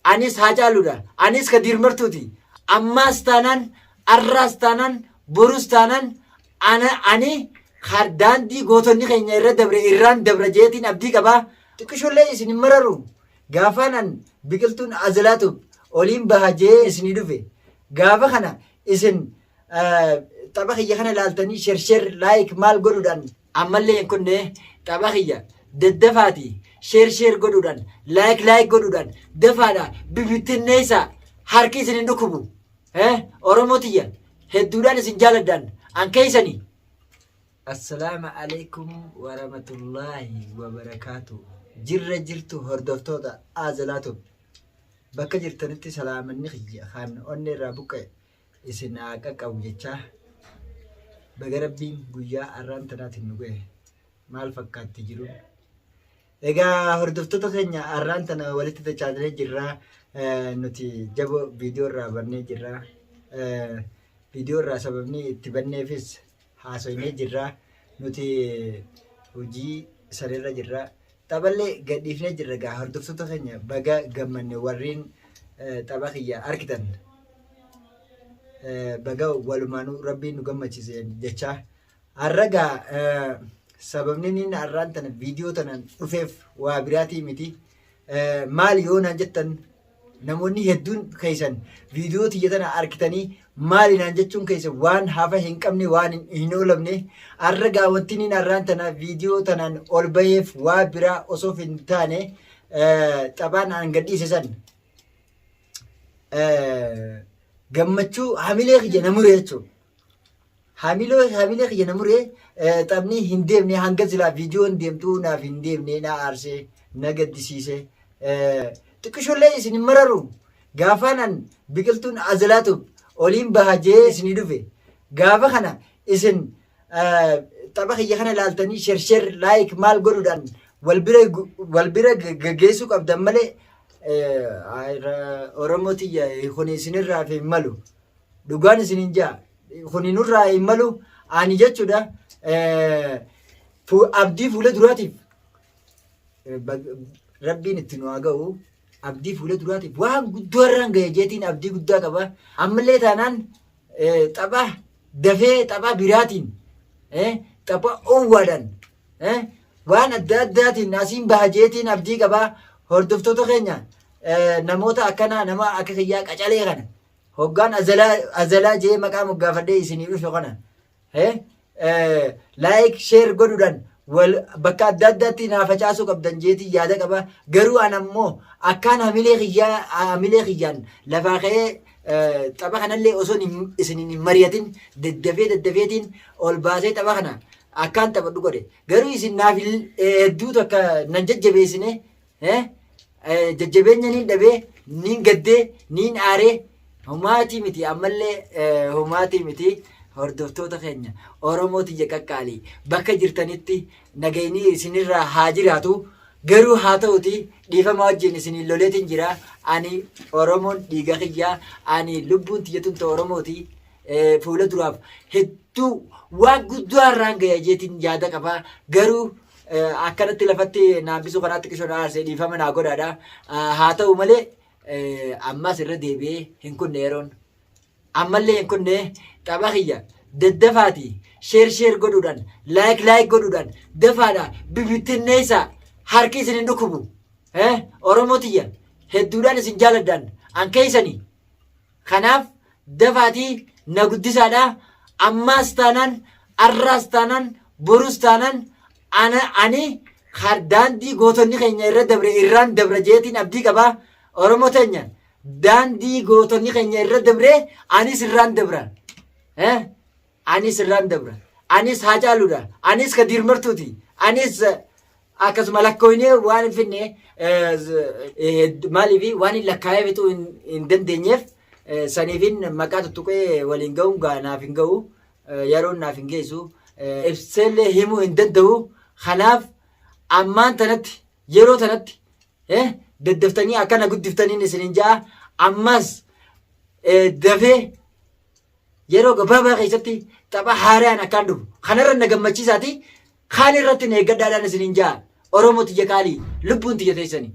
Anis Haacaaluudha. Anis ka Diirmartuuti. Ammaas taanaan, arraas taanaan, borus taanaan ana ani ka daandii gootonni keenya irra dabre irraan dabra jeetiin abdii qaba. Xiqqishoollee isin hin mararu. Gaafaan an biqiltuun Azalaatub oliin baha jee isinii dhufe. Gaafa kana isin eh, tapha kiyya kana ilaaltanii sher sher like maal godhuudhaan Ammallee hin kunne tapha kiyya daddafaati sheer sheer godhuudhaan laayik laayik godhuudhaan dafaadha bibittinneessaa harki isin hin dhukkubu Eh, oromoo tiyya hedduudhaan isin jaaladhaan an keessanii Assalamu alaikum warahmatullahi wabarakatuh. Jirra jirtu hordoftoota Aazalaatub. Bakka jirtanitti salaamanni kiyya kan onnee irraa buqqa'e isin haa qaqqabu jechaa baga rabbiin guyyaa arraan tanaatiin nu ga'e maal fakkaatti jiru egaa hordoftoota keenya arraan tana walitti dachaatanii jirraa nuti jabo viidiyoo irraa bannee jirraa viidiyoo irraa sababni itti banneefis haasoynee jirra. Nuti hojii sareerra jirra. Taphallee gadhiifnee jirra gaa hordoftoota keenya baga gammanne warreen eh, tapha kiyya argitan. Eh, Baga walumaanuu rabbiin nu gammachiise jechaa. Har'a gaa eh, sababni inni har'aan tana viidiyoo tanaan dhufeef waa biraatii miti. Eh, Maali yoo naan jettan Namoonni hedduun keessan viidiyoo tiyya tana argitanii maali naan jechuun keessan waan hafa hin qabne waan hin- hin oolamne arra gaa wanti inni narraan tana viidiyoo tanaan ol baheef waa biraa osoo hin taane eh, xabaan aan gadhiise san eh, gammachuu hamilee kiyya na mure jechuudha. Hamiloo hamilee kiyya na muree eh, taphni hin deemne hanga silaa viidiyoon deemtu naaf hin deemne na aarsee na gaddisiise. Eh, Xiqqishoollee isin hin mararu gaafaanan biqiltuun azalaatu oliin baha jee isinii dhufe. Gaafa kana isin eh, tapha kiyya kana ilaaltanii shersher laayik maal godhuudhaan wal bira gu- wal bira g- gaggeessuu qabdan malee eh, ayra- Oromoo tiyya kun isinirraa fi hin malu. Dhugaan isinin jaa kuni nurraa hin malu ani jechuudha eh, fu- abdii fuula duraatiif eh, bag- rabbiin itti nu haa ga'u abdii fuula duraatiif waan guddoo irraan ga'e jeetiin abdii guddaa qaba ammallee taanaan eh, tapha dafee tapha biraatiin eh, tapha owwaadhaan eh, waan adda addaatiin asiin baha jeetiin abdii qaba hordoftoota keenya eh, namoota akkanaa nama akka kiyyaa qacalee kana Hoggaan azalaa azalaa jee maqaa moggaafadhee isinii dhufe kana eh, eh, like share godhuudhaan wal bakka adda addaatti naa facaasuu qabdan jeetii yaada qaba garuu an ammoo akkaan hamilee kiyyaa hamilee kiyyaan lafaa ka'ee eh, tapha kanallee osoo hin- isiniin hin mari'atin daddafee daddafeetiin ol baasee tapha kana akkaan taphadhu godhe garuu isin naaf hin- eh, hedduu takka nan jajjabeessine Eh, eh, jajjabeenya niin dhabee niin gaddee niin aaree homaatii miti ammallee eh, homaatii miti hordoftoota keenya oromoo tiyya qaqqaalii bakka jirtanitti nagayni isinirraa haa jiraatu garuu haa ta'uti dhiifama wajjin isiniin loleetiin jira ani oromoon dhiiga kiyyaa ani lubbuun tiyya tun ta oromooti eh, fuula duraaf hedduu waan guddaa irraan gaya jeetiin yaada qabaa garuu Akkanatti lafatti na hambisuu kanaa xiqqishoo na aarsee dhiifama naa godhaadha. Haa ta'u malee ammas irra deebi'ee hin kunne yeroon. Ammallee hin kunne tapha kiyya daddafaati sheer sheer godhuudhaan laayik laayik godhuudhaan dafaadha bibittinneessa harki isin hin dhukkubu. Oromoo tiyya hedduudhaan isin jaaladhaan an keessanii. Kanaaf dafaatii na guddisaadha. Ammaas taanaan, arraas taanaan, borus taanaan ana ani kar- daandii gootonni keenya irra dabre irraan dabra jeetiin abdii qaba. Oromoo teenya daandii gootonni keenya irra dabre anis irraan dabra. Eh? Anis irraan dabra. Anis Haacaaluudha. Anis Kadiir Martuuti. Anis akkasuma lakkooynee waan hin finne maaliif waan hin lakkaa'ee fixuu hin dandeenyeef saniifin maqaa tuttuqee waliin ga'uun gaa naaf hin ga'u yeroon naaf hin geessu ibseellee himuu hin danda'u kanaaf ammaan tanatti yeroo tanatti daddaftanii akkana guddiftaniin isinin ja'a ammas dafee Yeroo gabaabaa keessatti tapha haaraan akkaan dhufu kanarra na gammachiisaati kaan irratti na eeggadhaadhaan isiniin ja'a Oromoo tiyya qaalii lubbuun tiyya teessani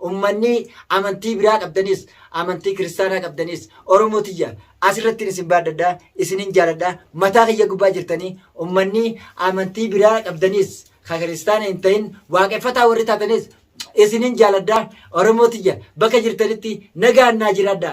ummanni amantii biraa qabdanis amantii kiristaanaa qabdanis Oromoo tiyya asirratti isin baaddadha isinin jaaladha mataa kiyya gubbaa jirtanii ummanni amantii biraa qabdanis ka kiristaana hin ta'in waaqeffataa warri taatanis isinin jaaladha Oromoo tiyya bakka jirtanitti nagaan naa jiraadha.